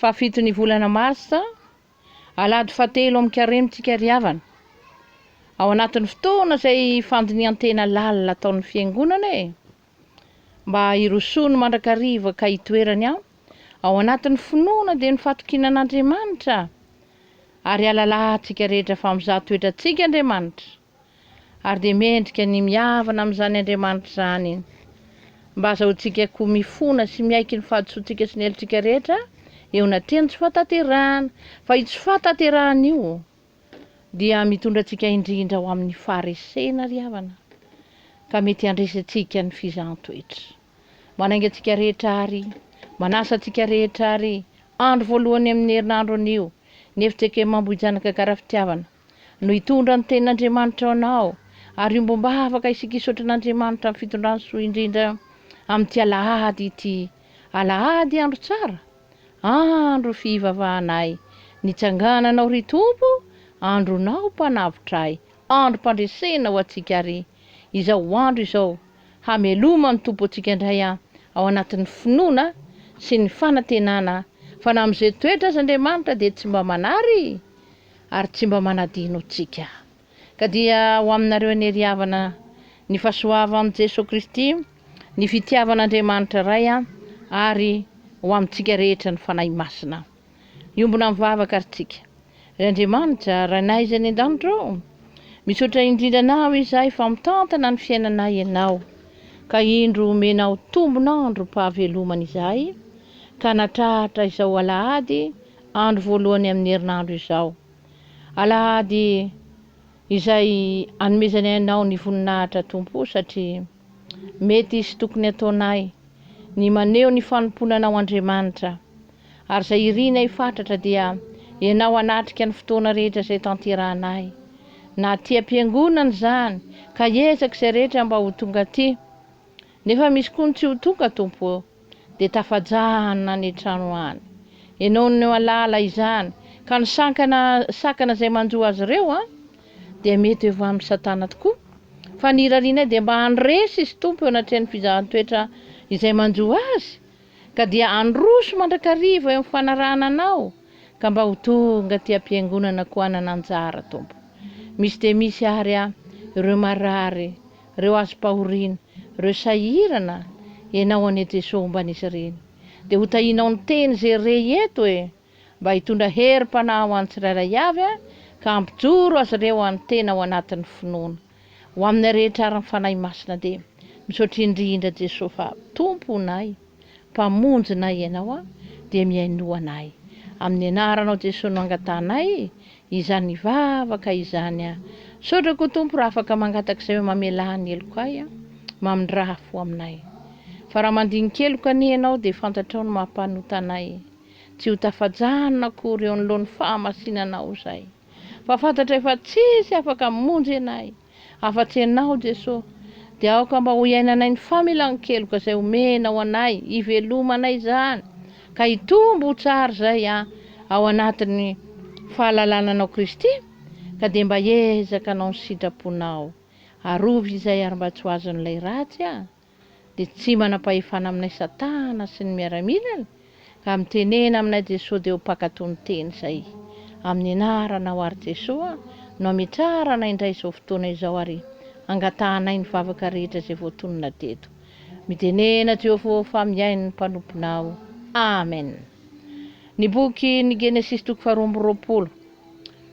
Fahafiton'ny volana Marsa, Alahady fahatelo amin'ny Karemintsika ry havana. Ao anatin'ny fotoana izay fandinihan-tena lalina ataon'ny Fiangonana e! mba hirosoany mandrakariva ka hitoerany ao, ao anatin'ny finoana dia ny fatokiana an'Andriamanitra, ary alalahantsika rehetra fa mizaha toetrantsika Andriamanitra. ary dia mendrika ny mihavana amin'izany Andriamanitra izany. Mba azahoantsika koa mifona sy miaiky ny fahadisoantsika sy ny helotsika rehetra eo anatrehan'ny tsy fahatanterahana, fa io tsy fahatanterahana io dia mitondra antsika indrindra ho amin'ny faharesena ry havana, ka mety handresy antsika ny fizahan-toetra. Manainga antsika rehetra àry, manasa antsika rehetra àry, andro voalohany amin'ny herinandro anio, ny efijakemambohijanaka gara fitiavana, no hitondra ny tenin'Andriamanitra ho anao, ary ombom-bavaka isika hisaotra an'Andriamanitra amin'ny fitondrany soa indrindra amin'ity alahady ity. Alahady andro tsara, andro fihivavahanay, nitsangananao ry Tompo, andronao mpanavotra ahy, androm-pandresena ho antsika ary izao andro izao, hameloma ny Tompo antsika indray ao anatin'ny finoana sy ny fanantenana fa na amin'izay toetra aza Andriamanitra dia tsy mba manary, ary tsy mba manadino tsika. Ka dia ho aminareo anery havana ny fasoava am Jeso Kristy, ny fitiavan Andriamanitra Ray ary ho amintsika rehetra ny Fanahy Masina. Hiombona mivavaka ary tsika. Ry Andriamanitra, Rainay izay any andanitra ô, misaotra indrindra Anao izahay fa mitantana ny fiainanay Ianao, ka indro omenao tombon androm pahavelomana izahay, ka natratra izao alahady Andro voalohany amin'ny herinandro izao, Alahady, izay anomezanay anao ny voninahitra Tompo o, satria mety sy tokony ataonay ny maneho ny fanompoana anao Andriamanitra, ary izay irinay fatratra dia ianao hanatrika ny fotoana rehetra izay tanterahanay, na aty am-piangonana izany, ka hiezaka izay rehetra mba ho tonga aty, nefa misy koa ny tsy ho tonga Tompo o. dia tafajahany nany an-trano any. Enao no alaala izany, ka ny sankana, sakana izay manjo azy ireo an, dia mety ho avy amin'i Satana tokoa. Fa ny irarianay dia mba handresy izy Tompo eo anatrehan'ny fizahan-toetra izay manjo azy, ka dia handroso mandrakariva eo amin'ny fanarahana Anao, ka mba ho tonga aty am-piangonana koa hanana anjara Tompo. Misy dia misy ary an, ireo marary Reo hazom-pahoriana, reo sahirana enao anie Jeso homba an'izy ireny de ho tahinao ny teny ze re eto e! Mba hitondra herim-panahy ho an'ny tsirairay avy a! Ka hampijoro azy ireo any tena ao anatin'ny finoana. Ho aminay rehetra ary ny Fanahy Masina de misaotra indrindra Jeso fa Tomponay. Mpamonjy nay Ianao aho dia mihainoana ahy Amin'ny anaranao Jesoa no angatahanay izany vavaka izany aho Misaotra koa Tompo raha afaka mangataka izay hoe mamelà ny heloko ahy aho Mamindraha fo aminay Fa raha mandinika heloko anie Ianao dia fantatrao ny maha-mpanota anay Tsy ho tafajanona akory eo anoloan'ny fahamasinanao izay Fa fantatray fa tsisy afaka hamonjy anay Afa-tsy Ianao, Jeso, dia aoka mba ho iainanay ny familan-keloka izay omenao anay, hivelomanay izany, ka hitombo ho tsara izay aho ao anatin'ny fahalalana Anao Kristy, ka dia mba hiezaka hanao ny sitraponao. Arovy izay ary mba tsy ho azon'ilay ratsy aho. dia tsy manam-pahefana aminay satana sy ny miaramilany ka mitenena aminay Jesoa dia ho mpakato ny teny izay amin'ny anaranao ary Jesoa no ametrarana indray izao fotoana izao ary angatahanay ny vavaka rehetra izay voatonona teto mitenena Jehovah fa mihaino ny mpanomponao Amen ny boky ny Genesisy toko faharoa amby roapolo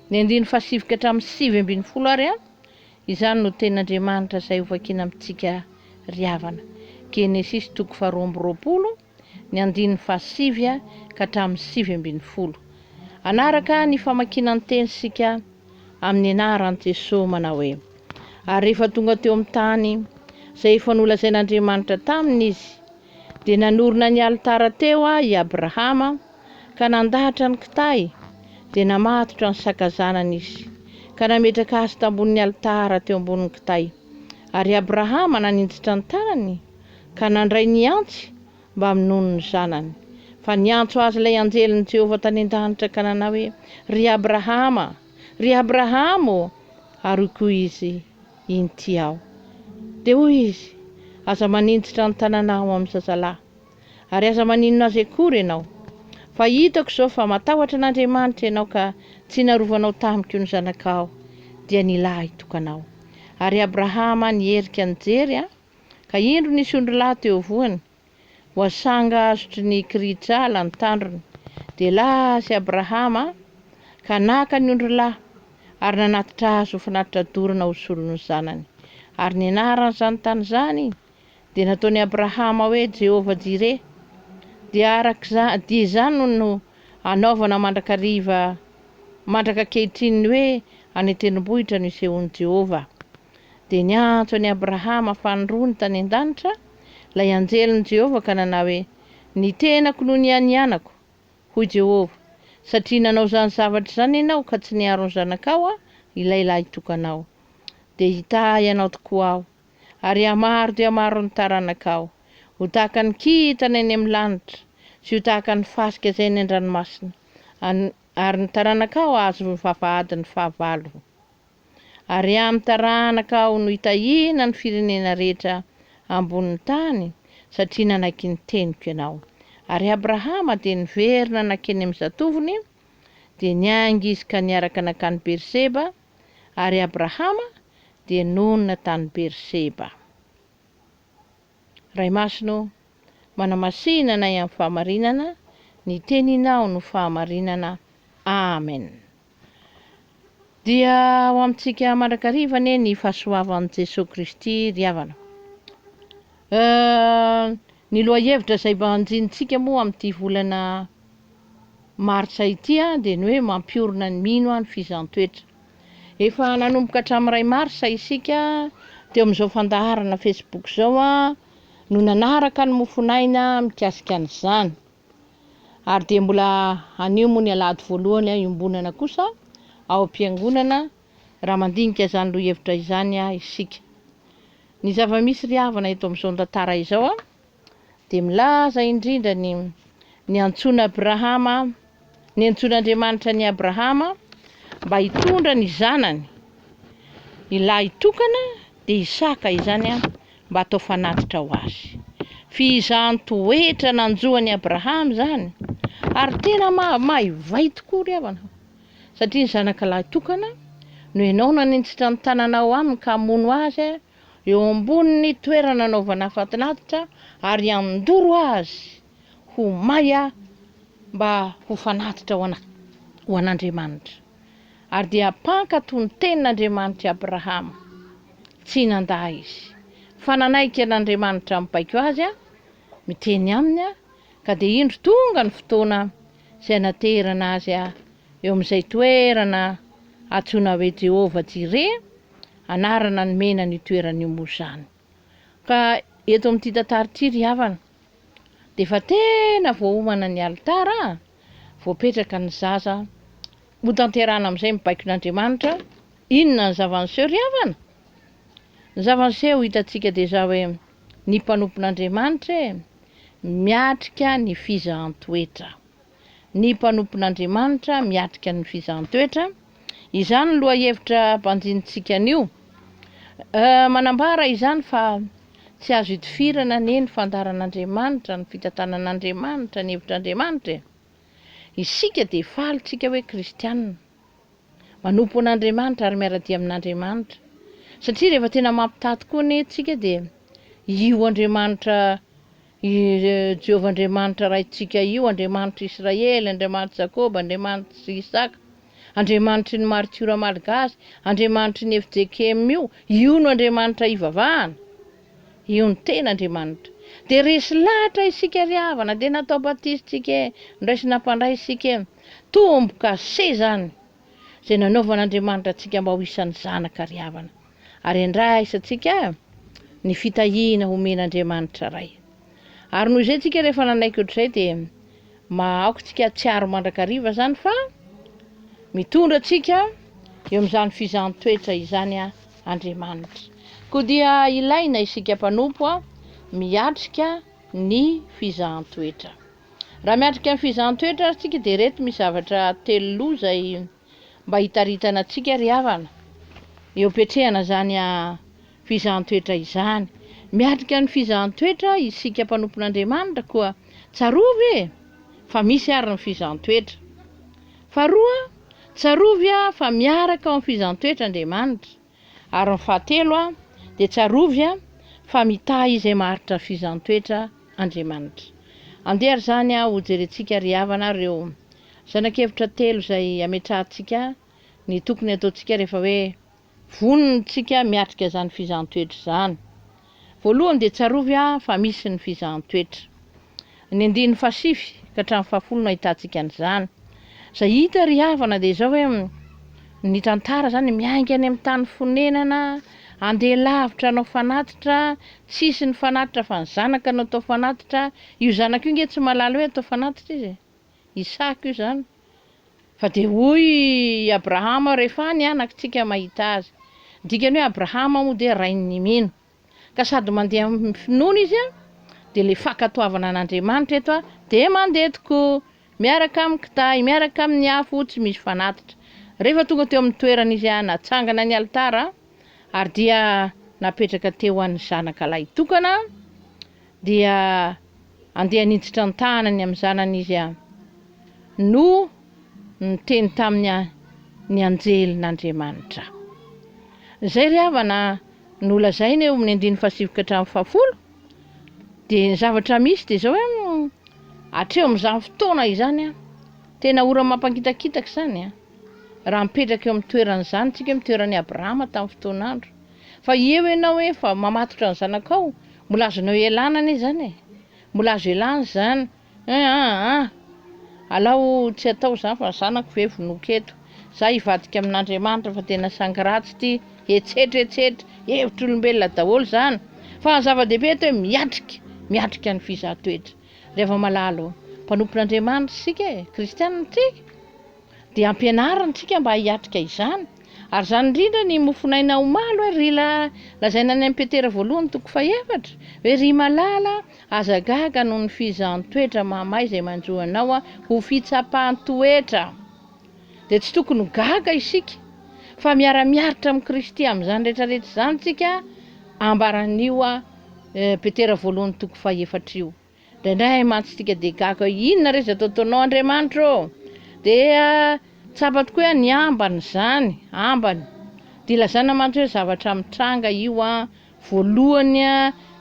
ny andiny fahasivy ka hatramin'ny sivy ambin'ny folo ary Izany no tenin'Andriamanitra izay hovakina amintsika ry havana, Genesisy toko faharoa amby roapolo, ny andininy fahasivy ka hatramin'ny sivy ambin'ny folo. Hanaraka ny famakiana ny teny isika amin'ny anaran'i Jesoa manao hoe, Ary rehefa tonga teo amin'ny tany izay efa nolazain'Andriamanitra taminy izy, dia nanorina ny alitara teo i Abrahama, ka nandahatra ny kitahy, dia namatotra ny sakazanany izy, ka nametraka azy tambonin'ny alitara teo ambonin'ny kitahy. Ary Abrahama naninjitra ny tanany, ka nandray ny antsy mba hamonoany ny zanany. Fa niantso azy ilay anjelin'i Jehovah tany an-danitra ka nanao hoe, Ry Abrahama! Ry Abrahama ô! Ary hoy koa izy, Inty aho. Dia hoy izy, Aza maninjitra ny tananao amin'ny zazalahy. Ary aza maninona azy akory ianao. Fa hitako izao fa matahotra an'Andriamanitra ianao ka tsy narovanao tamiko ny zanakao, dia ny lahy tokanao. Ary Abrahama nierika nijery, ka indro nisy ondrilahy teo voany, voasanga azotry ny kirihitr'ala ny tandrony. Dia lasy Abrahama ka naka ny ondrilahy, ary nanatitra azy ho fanatitra dorana ho solon'ny zanany. Ary ny anaran'izany tany izany Dia nataon'i Abrahama hoe Jehovah-jireh. Dia araka dia izany no anaovana mandrakariva mandraka ankehitriny ny hoe any an-tendrombohitra no isehoan'i Jehovah. Dia niantso an'i Abrahama fanirony tany an-danitra ilay anjelin'i Jehovah ka nanao hoe, Ny tenako no nianianako, hoy Jehovah, satria nanao izany zavatra izany ianao ka tsy niaro ny zanakao, ilay lahitokanao. Dia hitahy anao tokoa aho. ary hamaharo dia hamaharo ny taranakao ho tahaka ny kintana eny amin'ny lanitra sy ho tahaka ny fasika izay eny an-dranomasina, ary ny taranakao hahazo ny vavahadin'ny fahavalo. Ary amin'ny taranakao no hitahiana ny firenena rehetra ambonin'ny tany, satria nanaiky ny teniko ianao. Ary Abrahama dia niverina nankeny amin'ny zatovony, dia niainga izy ka niaraka nankany Beerseba, ary Abrahama dia nonina tany Beerseba. Ray Masina ô, manamasihina anay amin'ny fahamarinana, ny Teninao no fahamarinana. Amen. Dia ho amintsika mandrakariva anie ny fahasoavan'i Jesoa Kristy ry havana. Euh, ny lohahevitra izay mba anjinitsika moa amin'ity volana martsa ity dia ny hoe mampiorina ny mino ny fizaham-toetra. Efa nanomboka hatramin'ny iray marsa isika teo amin'izao fandaharana facebook izao no nanaraka ny mofon'aina mikasika an'izany. Ary dia mbola anio moa ny alahady voalohany iombonana kosa ao am-piangonana raha mandinika izany lohahevitra izany isika. Ny zava-misy ry havana eto amin'izao tantara izao dia milaza indrindra ny niantsoana Abrahama, niantsoan'Andriamanitra an'i Abrahama mba hitondra ny zanany, ny lahitokana dia Isaka izany mba hatao fanatitra ho azy. F'izany toetra nanjo an'i Abrahama izany, ary tena maivay tokoa ry havana, satria ny zanaka lahitokana no ianao no hanitsitra ny tananao aminy ka hamono azy, eo ambonin'ny toerana anaovana afatin'aditra ary handoro azy ho may mba ho fanatitra ho ana, ho an'Andriamanitra. Ary dia hampankatò ny tenin'Andriamanitra i Abrahama. Tsy nandà izy, fa nanaiky an'Andriamanitra mibaiko azy, miteny aminy, ka dia indro tonga ny fotoana izay naterana azy eo amin'izay toerana antsoina hoe Jehovah-jireh, Anarana nomena an'io toerana io moa izany. Ka eto amin'ity tantara ity ry havana dia efa tena voaomana ny alitara a! Voapetraka ny zaza hotanterahana amin'izay ny baikon'Andriamanitra. Inona ny zava-niseho ry havana? Ny zava-niseho hitantsika dia izao hoe, ny mpanompon'Andriamanitra e! miatrika ny fizahan-toetra. ny mpanompon'Andriamanitra miatrika ny fizahan-toetra. Izany lohahevitra banjinintsika anio manambara izany fa tsy azo itifirana anie ny fandaharan'Andriamanitra, ny fitantanan'Andriamanitra, ny hevitr'Andriamanitra e! Isika dia faly tsika hoe kristiana, manompo an'Andriamanitra ary miara-dia amin'Andriamanitra, satria rehefa tena mampitaha tokoa anie tsika dia io Andriamanitra I Jehovah Andriamanitra Raintsika io, Andriamanitr'i Israely, Andriamanitr'i Jakoba, Andriamanitr'i Isaka, Andriamanitry ny maritiora malgasy, Andriamanitry ny fjkm io, io no Andriamanitra hivavahana. Io no tena Andriamanitra. Dia resy lahatra isika ry havana, dia natao batisa isika e, noraisina mpandray isika e. Tombo-kase izany! izay nanaovan'Andriamanitra antsika mba ho isan'ny zanaka ry havana. Ary andraisantsika ny fitahiana omen'Andriamanitra Ray. Ary noho izay tsika rehefa nanaiky ohatr'izay dia mahaoka tsika hatsiaro mandrakariva izany fa mitondra antsika eo amin'izany fizahan-toetra izany Andriamanitra. Koa dia ilaina isika mpanompo miatrika ny fizahan-toetra. Raha miatrika ny fizahan-toetra ary tsika dia ireto misy zavatra telo loha izay mba hitaritana antsika ry havana eo am-piatrehana izany fizahan-toetra izany. Miatrika ny fizahan-toetra isika mpanompon'Andriamanitra koa tsarovy e! fa misy ary ny fizahan-toetra. Faharoa, tsarovy fa miaraka ao amin'ny fizahan-toetra Andriamanitra. Ary ny fahatelo dia tsarovy fa mitahy izay maharitra fizan-toetra Andriamanitra. Andeha ary izany ho jerentsika ry havana ireo zanak'hevitra telo izay ametrahantsika ny tokony hataontsika rehefa hoe vonintsika miatrika izany fizan-toetra izany. Voalohany dia tsarovy a fa misy ny fizahan-toetra. Ny andininy fahasivy ka hatramin'ny fahafolo no ahitantsika an'izany. Izay hita ry havana dia izao hoe ny tantara izany miainga any amin'ny tany fonenana, andeha lavitra hanao fanatitra, tsy hisy ny fanatitra fa ny zanaka no atao fanatitra, io zanaka io nge tsy mahalala hoe atao fanatitra izy e! Isaka io zany, fa dia hoy i Abrahama rehefa ny anakitsika mahita azy, ny dikany hoe Abrahama moa dia rain'ny mino, ka sady mandeha amin'ny finoana izy an, dia ilay fankatoavana an'Andriamanitra eto an, dia mandeha tokoa miaraka amin'ny kitahy, miaraka amin'ny afo tsy misy fanatitra, rehefa tonga teo amin'ny toerana izy an, natsangana ny alitara, ary dia napetraka teo an' ny zanaka lahitokana, dia andeha niditra an-tahanany amin'ny zanany izy an! no niteny taminy an! ny anjelin'Andriamanitra. Izay ry havana nolazaina eo amin'ny andininy fahasivy ka hatramin'ny fahafolo dia ny zavatra misy dia izao hoe hatreo amin'izany fotoana izany an! tena ora mampangitakitaka izany an! raha mipetraka eo amin'ny toeran'izany tsika amin'ny toeran'i Abrahama tamin'ny fotoan'andro Fa eo ianao hoe efa mamatotra ny zanakao, mbola azonao ialana anie izany e! Mbola azo ialana izany eh! ah ah! Alao tsy atao izany fa ny zanako ve vonoiko eto? Za hivadika amin'Andriamanitra fa tena sangy ratsy ity, hetsetra hetsetra, hevitr'olombelona daholo izany! Fa ny zava-dehibe eto hoe miatrika, miatrika ny fizahan-toetra! Ry hava-malala ô! Mpanompon'Andriamanitra isika e! Kristianina isika! Dia ampianariny tsika mba hiatrika izany. Ary izany indrindra ny mofonaina omaly hoe ry la lazaina any am Petera voalohany toko faha efatra hoe ry malala a aza gaga noho ny fizahan toetra mahamay izay manjo anao a ho fitsapan toetra dia tsy tokony ho gaga isika fa miara miaritra am Kristy am izany rehetra rehetra izany tsika ambaran io a Petera voalohany toko faha efatra io. Indraindray hay mantsy tsika dia gaga hoe inona re izay ataotaonao Andriamanitra ô? Dia tsapa tokoa hoe ny ambany izany, ambany. Dia ilazana mantsy hoe zavatra mitranga io voalohany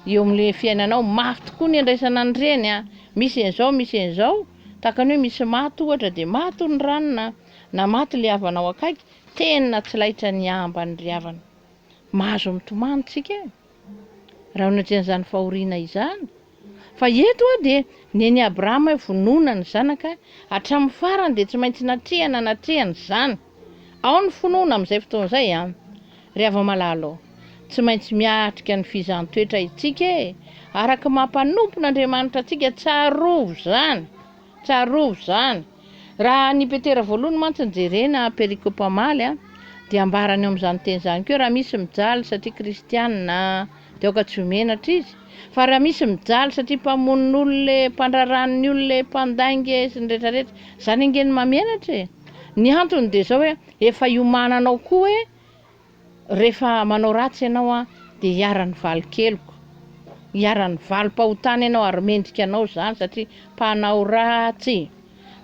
eo amin'ilay fiainanao. Mafy tokoa ny andraisana an'ireny, misy an'izao, misy an'izao. Tahaka ny hoe misy maty ohatra dia maty ny ranona na maty ilay havanao akaiky, tena tsy laitra ny ambany ry havana. Mahazo mitomany tsika e! raha onatrehina izany fahoriana izany, fa eto aho dia nen'i Abrahama hoe vonoina ny zanaka, hatramin'ny farany dia tsy maintsy natrehana natrehana izany, ao ny finoana amin'izay fotoana izay an! Ry hava-malala ô, tsy maintsy miatrika ny fizan-toetra isika e! Araka ny maha mpanompon'Andriamanitra antsika, tsarovy izany, tsarovy izany. Raha ny Petera voalohany mantsy no jerena, perikopa omaly, dia ambarany eo amin'izany teny izany koa hoe raha misy mijaly satria kristiana dia aoka tsy ho menatra izy, fa raha misy mijaly satria mpamono olona e, mpandrarano ny olona e, mpandainga e, sy ny rehetra rehetra, izany ange no mahamenatra e! Ny antony dia izao hoe efa iomananao koa hoe Rehefa manao ratsy ianao an, dia iharan'ny valin-keloka, iharan'ny valim-pahotana ianao ary mendrika anao izany satria mpanao ratsy.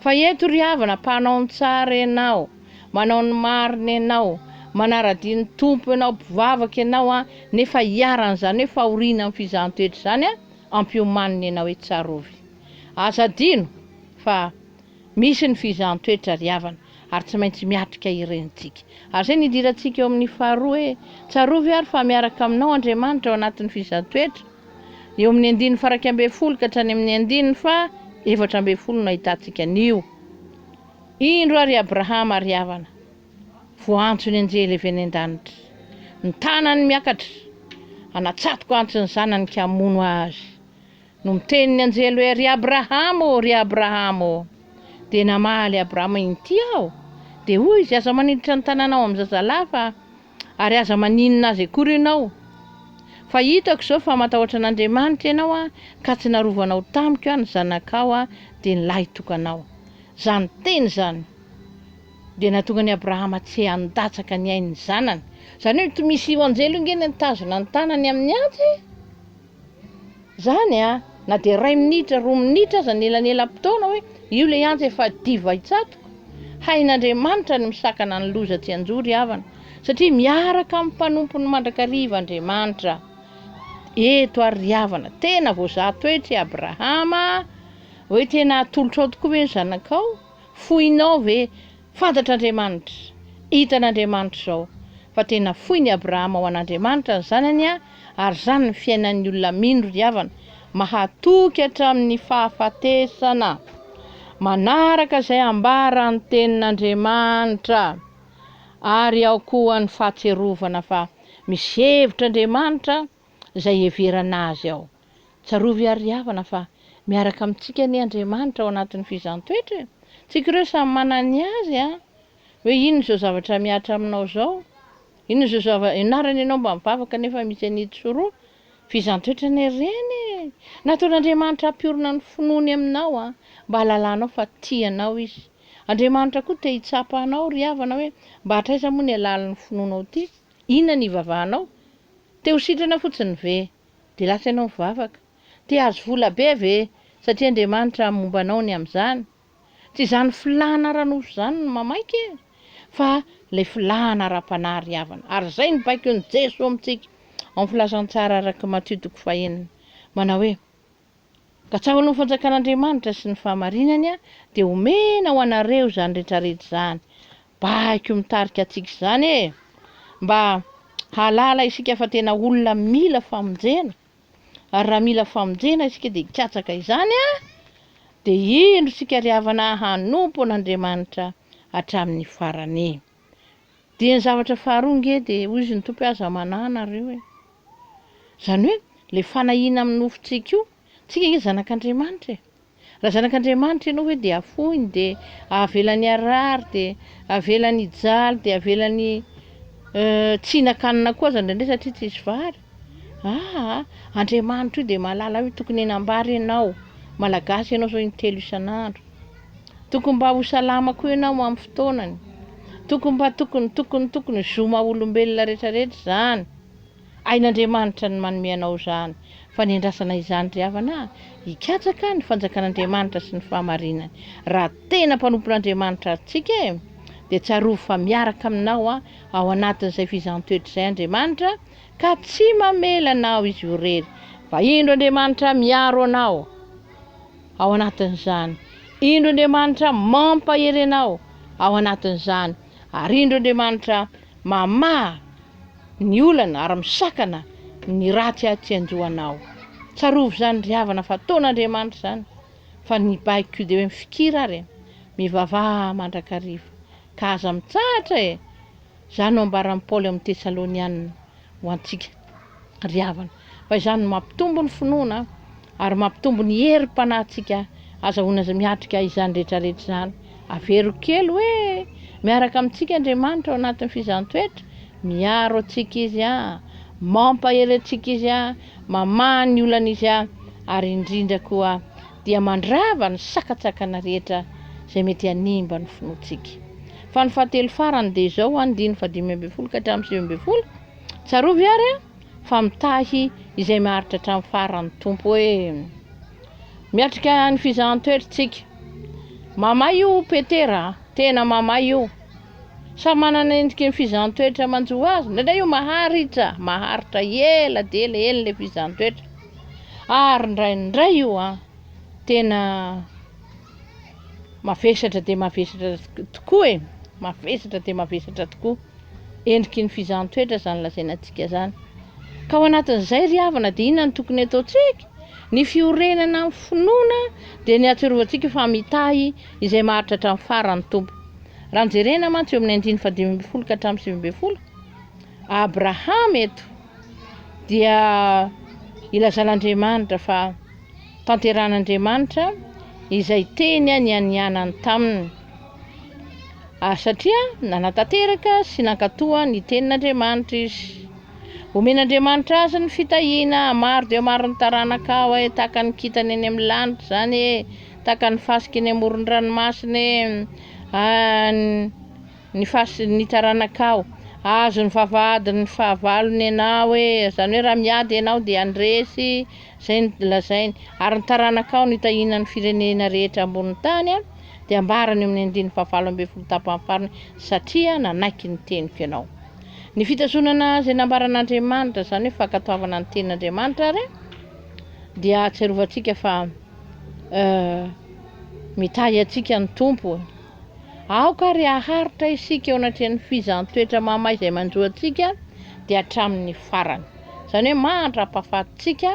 Fa eto ry havana, mpanao ny tsara ianao, manao ny marina ianao, manara-dia ny Tompo ianao, mpivavaka ianao an, nefa iharan'izany hoe fahoriana amin'ny fizahan-toetra izany an, ampiomanina ianao hoe tsarovy. Aza adino fa. Misy ny fizahan-toetra ry havana ary tsy maintsy miatrika ireny tsika. Ary izay no idirantsika eo amin'ny faharoa hoe, Tsarovy ary fa miaraka aminao Andriamanitra ao anatin'ny fizahan-toetra. Eo amin'ny andininy faraika ambin'ny folo ka hatrany amin'ny andininy faha efatra ambin'ny folo no ahitantsika an'io. Indro ary i Abrahama ry havana, voaantso ny anjely avy any an-danitra. Ny tanany miakatra, hanatsatoka antso ny zanany ka hamono azy. No miteny ny anjely hoe, Ry Abrahama ô, ry Abrahama ô! Dia namaly Abrahama, Inty aho. Dia hoy izy, Aza maniditra ny tananao amin'ny zazalahy fa, ary aza maninona azy akory ianao. Fa hitako izao fa matahotra an'Andriamanitra ianao an, ka tsy narovanao tamiko an ny zanakao an, dia ny lahitokanao. Izany teny izany dia nahatonga an'i Abrahama tsy handatsaka ny ain'ny zanany. Izany hoe tsy misy io anjely io ange nitazona ny tanany amin'ny antsy e! Zany a! Na dia iray minitra, roa minitra aza ny elanelam-potoana hoe io ilay antsa efa diva hitsatoka. Hain'Andriamanitra ny misakana ny loza tsy hanjo ry havana, satria miaraka amin'ny mpanompony mandrakariva Andriamanitra. Eto ary ry havana, tena voazaha toetra i Abrahama a! Hoe tena hatolotrao tokoa ve ny zanakao? Foinao ve? Fantatr'Andriamanitra, hitan'Andriamanitra izao fa tena foin'i Abrahama ho an'Andriamanitra ny zanany an, ary izany ny fiainan'ny olona mino ry havana, mahatoky hatramin'ny fahafatesana, manaraka izay ambaran'ny tenin'Andriamanitra, ary ao koa ny fahatsiarovana fa misy hevitra Andriamanitra izay heverana azy ao. Tsarovy àry ry havana fa miaraka amintsika anie Andriamanitra ao anatin'ny fizaham-toetra e! Tsika ireo samy manana ny azy an! Hoe inona izao zavatra mihatra aminao izao? Inona izao zava, ianarana ianao mba mivavaka nefa misy an'ito sy roa? Fizaham-toetra anie ireny e! Nataon'Andriamanitra hampiorina ny finoany aminao an! Mba hahalalanao fa tia anao Izy. Andriamanitra koa te hitsapa anao ry havana hoe mba hatraiza moa ny halalin'ny finoanao ity? Inona ny ivavahanao? Te ho sitrana fotsiny ve? Dia lasa ianao mivavaka? Te hahazo vola be ve? Satria Andriamanitra haha momba anao ny amin'izany. Tsy izany filàna ara-nofo izany no mamaika e! Fa ilay filàna ara-panahy ry havana. Ary izay no baikon'i Jesoa amintsika ao amin'ny Filazantsara araka i Matio toko fahenina. Manao hoe. Katsahoan'ny Fanjakan'Andriamanitra sy ny fahamarinany aho, dia omena ho anareo izany rehetrarehetra izany. Baiko mitarika antsika izany e! Mba hahalala isika fa tena olona mila famonjena, ary raha mila famonjena isika dia hikatsaka izany a! Dia indro isika ry havana hanompo an'Andriamanitra hatramin'ny farany. Dia ny zavatra faharoa nge dia hoy izy ny Tompo hoe aza manahy nareo e. Izany hoe ilay fanahiana amin'ny nofontsika io, tsika nge zanak'Andriamanitra e. Raha zanak'Andriamanitra ianao ve dia afoiny dia avelany harary dia avelany hijaly dia avelany tsy hihinan-kanina koa aza indraindray satria tsisy vary. Aa! Andriamanitra io dia mahalala io tokony hanambara ianao, Malagasy ianao zao intelo isan'andro, tokony mba ho salama koa ianao amin'ny fotoanany, tokony mba tokony tokony tokony zo maha olombelona rehetra rehetra izany, hain'Andriamanitra ny manome anao izany, fa ny andrasana izany ry havana a! hikatsaka ny fanjakan'Andriamanitra sy ny fahamarinany, raha tena mpanompon'Andriamanitra ary tsika e! dia tsarovy fa miaraka aminao ao anatin'izay fizaham-toetra izay Andriamanitra, ka tsy mamela anao izy irery, fa indro Andriamanitra miaro anao ao anatin'izany, indro Andriamanitra mampahery anao ao anatin'izany, ary indro Andriamanitra mamaha ny olana ary misakana ny ratsy atsy an-dohanao. Tsarovy izany ry havana fa ataon'Andriamanitra izany, fa ny baiko koa dia hoe mifikira ary e, mivavaha mandrakariva, ka aza mitsahatra e, Izany no ambaran'i Paoly amin'ny Tesalonianina ho antsika ry havana, fa izany no mampitombo ny finoana ary mampitombo ny herim-panahintsika. Azahoana miatrika izany rehetra rehetra izany. Avero kely hoe miaraka amintsika Andriamanitra ao anatin'ny fizahantsoetra, miaro antsika Izy, mampahery antsika Izy, mamaha ny olana Izy, ary indrindra koa dia mandrava ny sakantsakana rehetra izay mety hanimba ny finoantsika. Fa ny fahatelo farany dia izao, andininy fahadimy ambin'ny folo ka hatramin'ny sivy ambin'ny folo, Tsarovy àry an, fa mitahy izay maharitra hatramin'ny farany ny Tompo hoe, Miatrika ny fizahan-toetra isika. Mamay io Petera a! Tena mamay io. Samy manana ny endriky ny fizahan-toetra manjo azy. Indraindray io maharitra, maharitra ela dia ela, ela ilay fizahan-toetra. Ary indraindray io an, tena Mavesatra dia mavesatra tokoa e! Mavesatra dia mavesatra tokoa. Endriky ny fizahan-toetra izany lazaina antsika izany. Ka ao anatin'izay ry havana dia inona no tokony ataontsika? Ny fiorenana amin'ny finoana dia ny ahatsiarovantsika fa mitahy izay maharitra hatramin'ny farany ny Tompo. Raha jerena mantsy eo amin'ny andininy fahadimy ambin'ny folo ka hatramin'ny sivy ambin'ny folo, Abrahama eto dia ilazan'Andriamanitra fa tanteran'Andriamanitra izay teny nianianany taminy. Ary satria nanatanteraka sy nankatoa ny tenin'Andriamanitra izy. Omen'Andriamanitra azy ny fitahiana maro dia maro ny taranaka aho e, tahaka ny kintana eny amin'ny lanitra izany e, tahaka ny fasika eny amoron'ny ranomasina e. ny fasin' ny taranakao. Hahazo ny vavahadin' ny fahavalony ianao e! Izany hoe raha miady ianao dia handresy izay nolazainy. Ary ny taranakao no hitahiana ny firenena rehetra ambon' ny tany, dia ambarany eo amin' ny andininy fahavalo ambin'ny folo tapany farany, satria nanaiky ny teniko ianao. Ny fitazonana izay nambaran' Andriamanitra, izany hoe fankatoavana ny tenin' Andriamanitra ary, dia ahatsiarovantsika fa mitahy antsika ny Tompo. Aoka àry haharitra isika eo anatrehan'ny fizaham-toetra mahamay izay manjo antsika dia hatramin'ny farany. Izany hoe mahantra hampafaty-tsika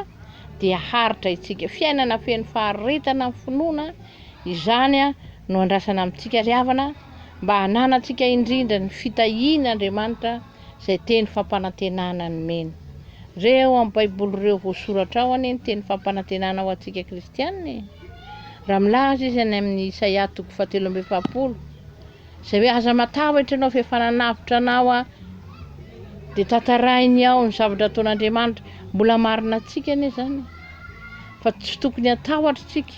dia haharitra itsika. Fiainana feno faharetana amin'ny finoana izany no andrasana amintsika ry havana mba hananantsika indrindra ny fitahian'Andriamanitra izay teny fampanantenana nomeny. Re ao amin'ny Baiboly ireo voasoratra ao anie ny teny fampanantenana ho antsika kristianina e! Raha milaza izy any amin'ny Isaia toko fahatelo amby efapolo, izay hoe aza matahotra ianao fa efa nanavotra anao aho, dia tantarahiny ao ny zavatra ataon'Andriamanitra. Mbola marina antsika anie izany fa tsy tokony hatahotra isika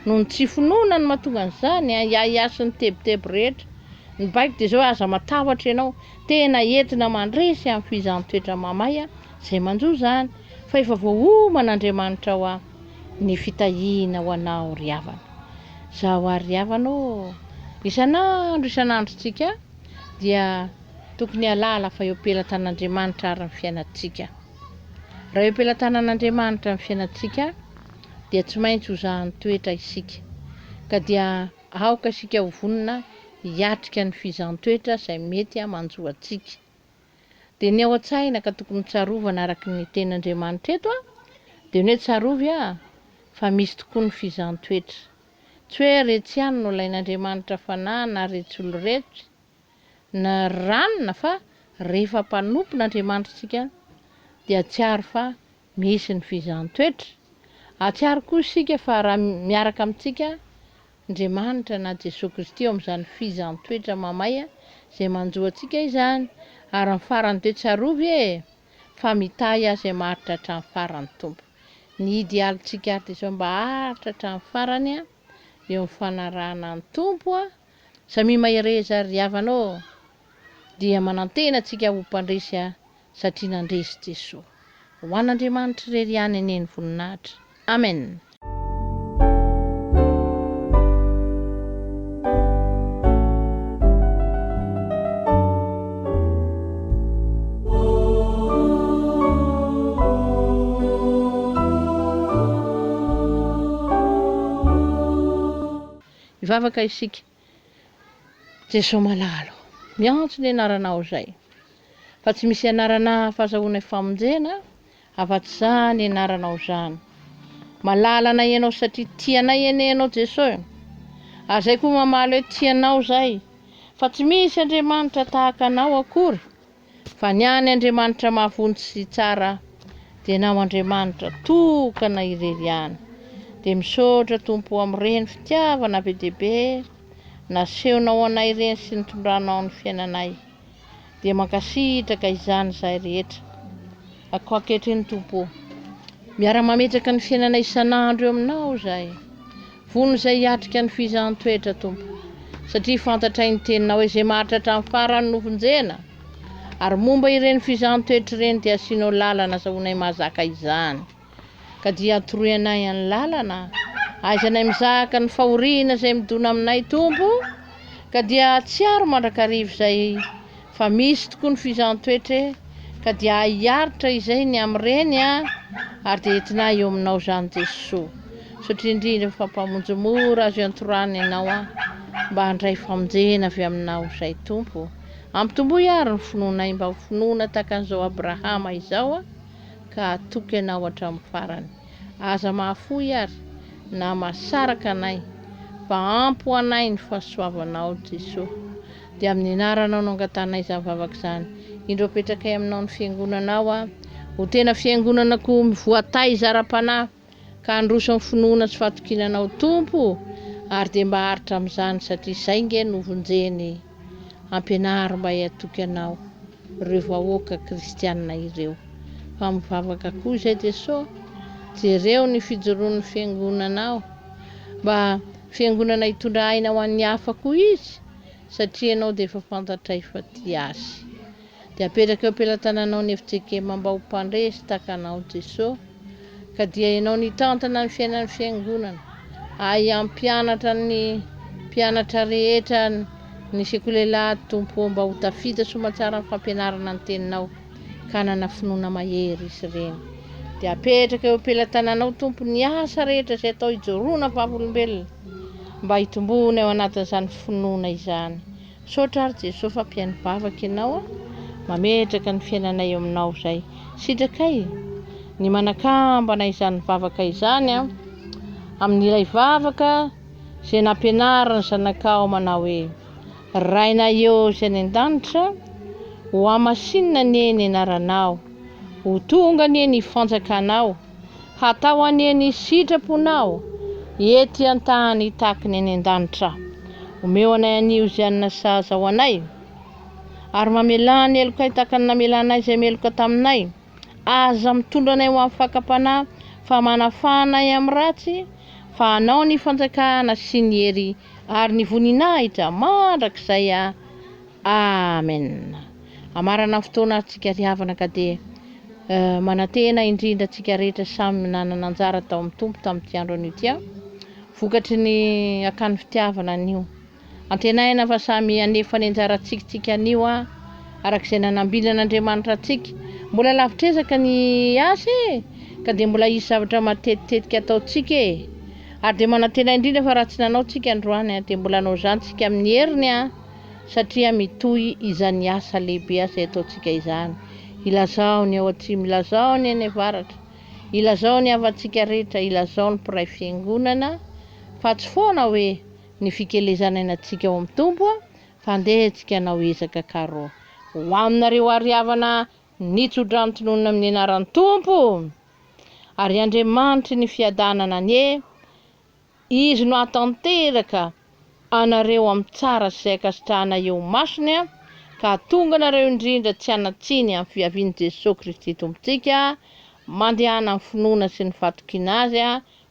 noho ny tsy finoana no mahatonga an'izany, ahiahiahy sy ny tebiteby rehetra. Ny baiko dia izao, aza matahotra ianao, tena entina mandresy amin'ny fihizan-toetra mamay izay manjo izany, fa efa voaoman'Andriamanitra ho aho ny fitahiana ho anao ry havana. Izaho ary ry havana ô! Isan'andro isan'androntsika dia tokony hahalala fa eo am-pelatan'Andriamanitra ary ny fiainantsika. Raha eo am-pelatanan'Andriamanitra ny fiainantsika dia tsy maintsy ho zahan'ny toetra isika, ka dia. Aoka isika ho vonona hiatrika ny fizaham-toetra izay mety hamanjo antsika. Dia ny ao an-tsaina ka tokony tsarovana araka ny teny Andriamanitra eto dia ny hoe tsarovy a! fa misy tokoa ny fizaham-toetra. Tsy hoe retsy ihany no alain'Andriamanitra fanahy na retsy olo retsy na ranona fa rehefa mpanompon'Andriamanitra isika dia atsiaro fa Misy ny fizahan-toetra. Hahatsiaro koa isika fa raha miaraka amintsika Andriamanitra na Jesoa Kristy eo amin'izany fizahan-toetra mamay izay manjo antsika izany, ary ny farany dia tsarovy e! fa mitahy azy hamaharitra hatramin'ny farany ny Tompo. Ny idealintsika ary dia izao mba haharitra hatramin'ny farany eo amin'ny fanarahana ny Tompo a! Samia mahereza ry havana ô! dia manantena antsika ho mpandresy ahy satria nandresy Jesoa. Ho an'Andriamanitra irery ihany anie ny voninahitra. Amen. Hivavaka isika, Jeso malalo, miantso ny anaranao izay, fa tsy misy anarana hafa azahoanay famonjena afa-tsy-zany anaranao izany. Malala anay ianao satria tia anay anie ianao Jeso e. Ary izay koa mamaly hoe tia anao izay, fa tsy misy Andriamanitra tahaka anao akory. Fa ny an' Andriamanitra mahavonjy sy tsara dia ny ao Andriamanitra tokana irery ihany. Dia misaotra Tompo o amin'ireny fitiavana be dia be nasehonao ho anay ireny sy nitondranao ny fiainanay. Dia mankasitraka izany izahay rehetra. Ako ankehitriny Tompo o. Miara mametraka ny fiainana isan'andro eo aminao izahay. Vono izay hiatrika ny fihizahan-toetra Tompo, satria fantatray ny teninao hoe izay maharitra hatramin'ny farany no vonjena. Ary momba ireny fihizahan-toetra ireny dia asianao lalana azahoanay mahazaka izany. Ka dia atoroy anay any lalana ahaizanay mizaka ny fahoriana izay midona aminay Tompo o. Ka dia atsiaro mandrakariva izay Fa misy tokoa ny fizan-toetra e! Ka dia hiaritra izay ny amin'ireny a! Ary dia entinay eo aminao izany Jesoa. Misaotra indrindra fa Mpamonjy mora azo iantorana Ianao a! Mba handray famonjena avy aminao izay Tompo o! Ampitomboy ary ny finoanay mba ho finoana tahaka an'izao Abrahama izao a! Ka hatoky Anao hatramin'ny farany. Aza mahafoy ary na mahasaraka anay fa ampy ho anay ny fahasoavanao Jesoa. Dia amin'ny anaranao no angatanay izany vavaka izany. Indro apetrakay aminao ny fiangonanao a. Ho tena fiangonanako voataiza ara-panahy, ka handroso amin'ny finoana sy fahatokiana anao Tompo o. Ary dia mba aritra amin'izany satria izay nge no vonjeny. Ampianaro mba hihatoky anao ireo vahoaka kristiana ireo. Fa mivavaka koa izay Jeso, jereo ny fijoroan'ny fiangonanao. Mba fiangonana hitondra aina ho an'ny hafa koa izy. satria ianao dia efa fantatray fa tia Azy. Dia apetraka eo am-pelatananao ny efiJekema mba ho mpandresy tahaka anao Jesosy, ka dia ianao nitantana ny fiainan'ny Fiangonana, ahy hampianatra ny mpianatra rehetra ny sekoly Elah Tompo ô mba ho tafita soamantsara amin'ny fampianarana ny Teninao. kanana finoana mahery izy ireny. Dia apetraka eo am-pelatananao, Tompo, ny asa rehetra izay atao hijoroana vavolombelona, mba hitomboana eo anatin'izany finoana izany. Misaotra ary Jesoa fa mpihaino vavaka Ianao, mametraka ny fiainanay eo Aminao izay. Sitrakay ny manakambana izany vavaka izany amin'ilay vavaka izay nampianarin'ny zanakao manao hoe, Rainahio Izay any an-danitra, hohamasinina anie ny anaranao, ho tonga anie ny fanjakanao, hatao anie ny sitraponao ety an-tany tahaky ny any an-danitra. Omeo anay anio izay hanina sahaza ho anay, ary mamelà ny helokay tahaka ny namelanay izay meloka taminay, Aza mitondra anay ho amin'ny fakam-panahy, fa manafaha anay amin'ny ratsy, fa anao ny fanjakana sy ny hery ary ny voninahitra mandrakizay. Amena. Hamarana ny fotoana ary tsika ry havana ka dia eh, manantena indrindra tsika rehetra samy nanana anjara tao amin'ny Tompo tamin'ity andro anio ity an, vokatry ny akany fitiavana anio. Antenaina fa samy hanefa ny anjara tsikintsika anio an! Araka izay nanambiny an'Andriamanitra antsika. Mbola lavitr'ezaka ny asa e! Ka dia mbola hisy zavatra matetitetika ataontsika e! Ary dia manantena indrindra fa raha tsy nanao tsika androany an, dia mbola hanao izany tsika amin'ny heriny an! Satria mitohy izany asa lehibe izay ataontsika izany. Ilazao ny ao atsimo, ilazao ny any avaratra, ilazao ny havantsika rehetra, ilazao ny mpiray fiangonana, fa tsy foana hoe, Ny fikelezana ina tsika ao am Tompo a fa ndeha atsika anao ezaka karo. Ho aminareo ary havana nitsodrano ntononina amin'ny anaran'ny Tompo! Ary Andriamanitry ny fiadanana anie Izy no hahatanteraka anareo amin'ny tsara sy izay ankasitrahana eo imasony a ka hahatonga anareo indrindra tsy hanatsiny amin'ny fiavian'i Jesoa Kristy Tompontsika mandehana amin'ny finoana sy ny fatokiana Azy a